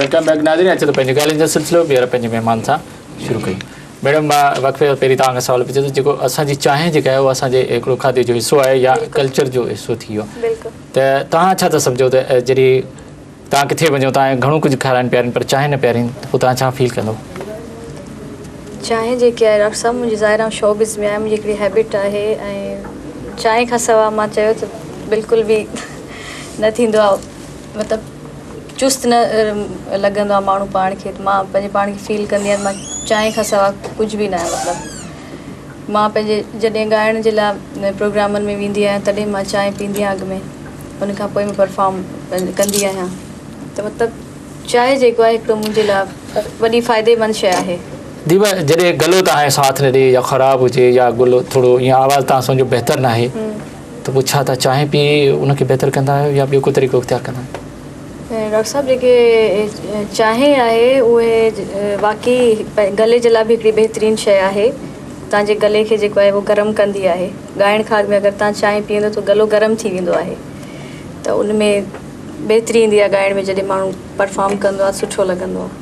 Welcome back ناظرين اچو ته پنهنجي ڳالهين جو سلسلو ٻيهر پنهنجي مهمان سان شروع ڪيون ميڊم مان وقفي کان پهرين توهان کان سوال پڇي ٿو جيڪو اسان جي چانهه جيڪا آهي اهو اسان جي هڪڙو کاڌي جو حصو آهي يا ڪلچر جو حصو ٿي ويو ته توهان ڇا ٿا سمجهو ته جڏهن توهان ڪٿي وڃو ته آئون گهڻو ڪجهه کارائين پيارين پر چانهه نه پيارين ته پوء توهان ڇا فيل ڪندو؟ چانهه جيڪي آهي ڊاڪٽر صاحب منهنجي ظاهر آئون شو بز ۾ آهيان منهنجي هڪڙي هيبٽ آهي ۽ چانهه کان سوا مان چيو ته بلڪل به نه ٿيندو آهي مطلب چست نه لڳندو آهي ماڻهو پاڻ کي ته مان پنهنجي پاڻ کي فيل ڪندي آهيان ته مان چانهه کان سوا ڪجهه به نه آهي مطلب مان پنهنجي جڏهن ڳائڻ جي لاء پروگرامن ۾ ويندي آهيان تڏهن مان چانهه پيندي آهيان اڳ ۾ ان کان پوء پرفام ڪندي آهيان ته مطلب چانهه جيڪو آهي هڪڙو منهنجي لاء وڏي فائدي مند شيء آهي. ديبا جڏهن گلو تهانجو ساٿ نه ڏي يا خراب هجي يا گلو ٿورو يا آواز تهان سمجهو بهتر ناهي ته پوء ڇا تهان چانهه پي ان کي بهتر ڪندا آهيو يا ٻيو ڪو طريقو اختيار ڪندا آهيو؟ ڊاڪٽر صاحب جيڪي چانهه آهي اهي واقعي گلي جي لاء به هڪڙي بهترين شيء آهي تان جي گلي کي جيڪو آهي اهو گرم ڪندي آهي ڳائڻ کان اڳ ۾ اگر تان چانهه پيئندو ته گلو گرم ٿي ويندو آهي ته ان ۾ بهتري ايندي آهي ڳائڻ ۾ جڏهن ماڻهو پرفام ڪندو آهي سٺو لڳندو آهي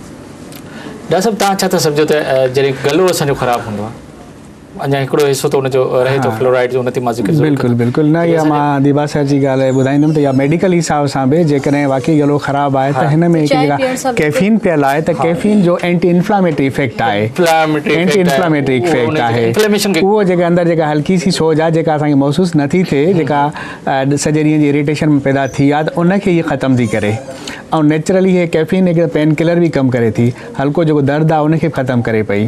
ڊاڪٽر صاحب تان ڇا ٿا سمجهو ته جڏهن گلو اسان جو خراب هوندو آهي اڃا هڪڙو حصو ته ان جو رهي ٿو فلورائيڊ جو ان تي مان ذڪر ضرور ڪندم بلڪل بلڪل نه اها مان ديبا صاحب جي ڳالهه ٻڌائيندم ته اها ميڊيڪل حساب سان به جيڪڏهن واقعي گلو خراب آهي ته هن ۾ هڪ جيڪا ڪيفين پيل آهي ته ڪيفين جو اينٽي انفلاميٽري افيڪٽ آهي اينٽي انفلاميٽري افيڪٽ آهي اهو جيڪا اندر جيڪا هلڪي سي سوڄ آهي جيڪا اسان کي محسوس نٿي ٿئي جيڪا سڄي ڏينهن جي اريٽيشن پيدا ٿي آهي ته ان کي هي ختم ٿي ڪري ۽ نيچرلي هي ڪيفين هڪ پين ڪلر به ڪم ڪري ٿي هلڪو جيڪو درد آهي ان کي به ختم ڪري پئي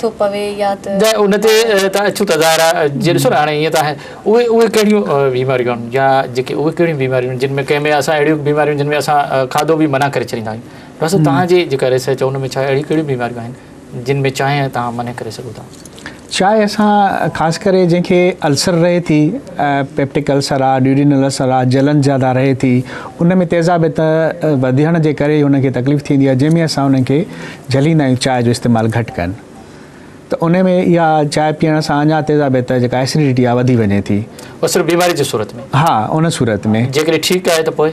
ٿو پوي يا ته. ته ان تي ته اڇو تظاهر آهي جي ڏسو نه هاڻي هيئن ته آهي اهي اهي ڪهڙيون بيماريون آهن يا جيڪي اهي ڪهڙيون بيماريون آهن جن ۾ ڪنهن ۾ اسان اهڙيون بيماريون جن ۾ اسان کاڌو به منع ڪري ڇڏيندا آهيون ڊاڪٽر صاحب توهان جي جيڪا ريسرچ آهي ان ۾ ڇا اهڙيون ڪهڙيون بيماريون آهن جن ۾ چانهه توهان منع ڪري سگهو ٿا. چانهه اسان خاص ڪري جنهن کي السر رهي ٿي پيپٽڪ السر آهي ڊيوڊينل السر آهي جلن زياده رهي ٿي ان ۾ تيزابيت وڌيڻ جي ڪري ان کي تڪليف ٿيندي آهي جنهن ۾ اسان انهن کي جهليندا آهيون چانهه جو استعمال گهٽ ڪن ته انهي ۾ اها چانهه پيئڻ سان اڃا تيزابيت ته جيڪا Acidity آهي وڌي وڃي ٿي. اهو صرف بيماري جي صورت ۾؟ ها ان صورت ۾. جيڪڏهن ٺيڪ آهي ته پوء؟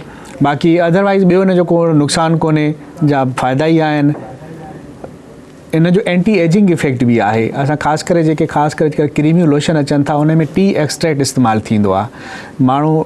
باقي otherwise ٻيو ان جو ڪو نقصان ڪونهي جا فائدا ئي آهن. ان جو Anti Aging Effect به آهي. اسان خاص ڪري جيڪي خاص ڪري ڪريميون لوشن اچن ٿا انهي ۾ Tea Extract استعمال ٿيندو آهي. ماڻهو.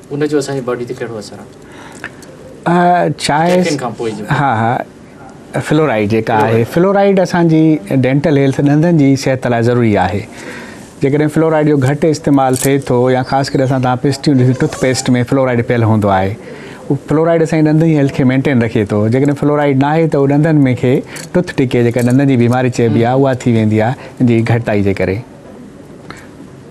ان جو اسان جي باڊي تي ڪهڙو اثر آهي؟ چانهه کان پوء جو ها ها فلورائيڊ جيڪا آهي فلورائيڊ اسان جي ڊينٽل هيلٿ ڏندن جي صحت لاء ضروري آهي جيڪڏهن فلورائيڊ جو گهٽ استعمال ٿئي ٿو يا خاص ڪري اسان تان پيسٽيون ڏسي ٽوٿ پيسٽ ۾ فلورائيڊ پيل هوندو آهي اهو فلورائيڊ اسان جي ڏندن جي هيلٿ کي مينٽين رکي ٿو جيڪڏهن فلورائيڊ نه آهي ته اهو ڏندن ۾ کي ٽوٿ ڊڪي جيڪا ڏندن جي بيماري چئبي آهي اها ٿي ويندي آهي ان جي گهٽتائي جي ڪري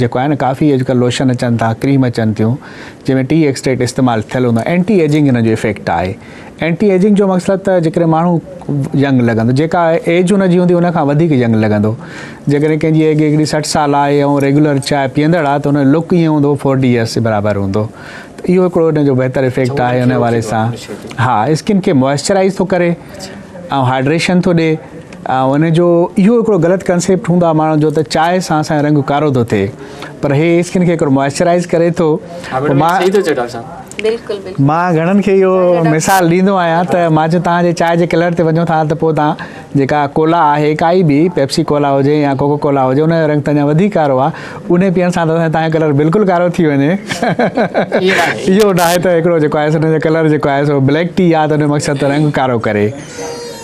جيڪو آهي نه ڪافي اڄڪلهه لوشن اچن ٿا ڪريم اچن ٿيون جنهن ۾ ٽي ايڪسٽريڪٽ استعمال ٿيل هوندو آهي اينٽي ايجنگ هن جو افيڪٽ آهي اينٽي ايجنگ جو مقصد ته جيڪڏهن ماڻهو ينگ لڳندو جيڪا ايج هن جي هوندي ان کان وڌيڪ ينگ لڳندو جيڪڏهن ڪنهن جي ايج هڪڙي سٺ سال آهي ۽ ريگيولر چانهه پيئندڙ آهي ته هن جو لڪ ائين هوندو فورٽي ايئرس جي برابر هوندو ته اهو هڪڙو هن جو بهتر افيڪٽ آهي ان حوالي سان ها اسڪن کي موئسچرائز ٿو ڪري ۽ هائڊريشن ٿو ڏي ان جو اهو هڪڙو غلط ڪنسيپٽ هوندو آهي ماڻهن جو ته چانهه سان اسان جو رنگ ڪارو ٿو ٿئي پر هي اسڪن کي هڪڙو موئسچرائز ڪري ٿو مان گهڻن کي اهو مثال ڏيندو آهيان ته مان چيو توهان جي چانهه جي ڪلر تي وڃو ٿا ته پوء توهان جيڪا ڪولا آهي ڪائي به پيپسي ڪولا هجي يا ڪوڪو ڪولا هجي ان جو رنگ ته اڃا وڌيڪ ڪارو آهي انهي پيئڻ سان ته توهان جو ڪلر بلڪل ڪارو ٿي وڃي اهو ناهي ته هڪڙو جيڪو آهي سو ان جو ڪلر جيڪو آهي سو بليڪ ٽي آهي ته ان جو مقصد ته رنگ ڪارو ڪري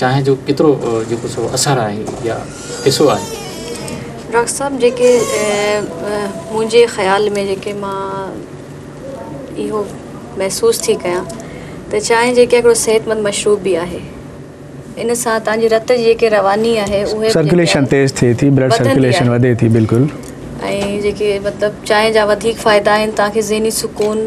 چانهه جو ڪيترو جيڪو سو اثر آهي يا حصو آهي؟ ڊاڪٽر صاحب جيڪي منهنجي خيال ۾ جيڪي مان اهو محسوس ٿي ڪيان ته چانهه جيڪي هڪڙو صحت مند مشروب به آهي ان سان تنهن جي رت جي جيڪي رواني آهي اهي سرڪيليشن تيز ٿئي ٿي بلڊ سرڪيليشن وڌي ٿي بلڪل ۽ جيڪي مطلب چانهه جا وڌيڪ فائدا آهن تنهن کي ذهني سڪون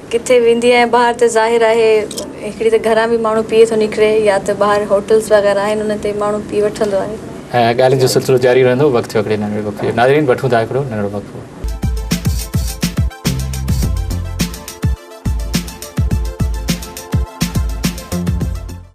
ڪٿي ويندي آهيان ٻاهر ته ظاهر آهي هڪڙي ته گهران به ماڻهو پيئي ٿو نڪري يا ته ٻاهر هوٽلز وغيره آهن انهن تي ماڻهو پي وٺندو آهي. ڳالهين جو سلسلو جاري رهندو وقت ٿيو هڪڙي ننڍڙي وقفي جو ناظرين وٺون ٿا هڪڙو ننڍڙو وقفو.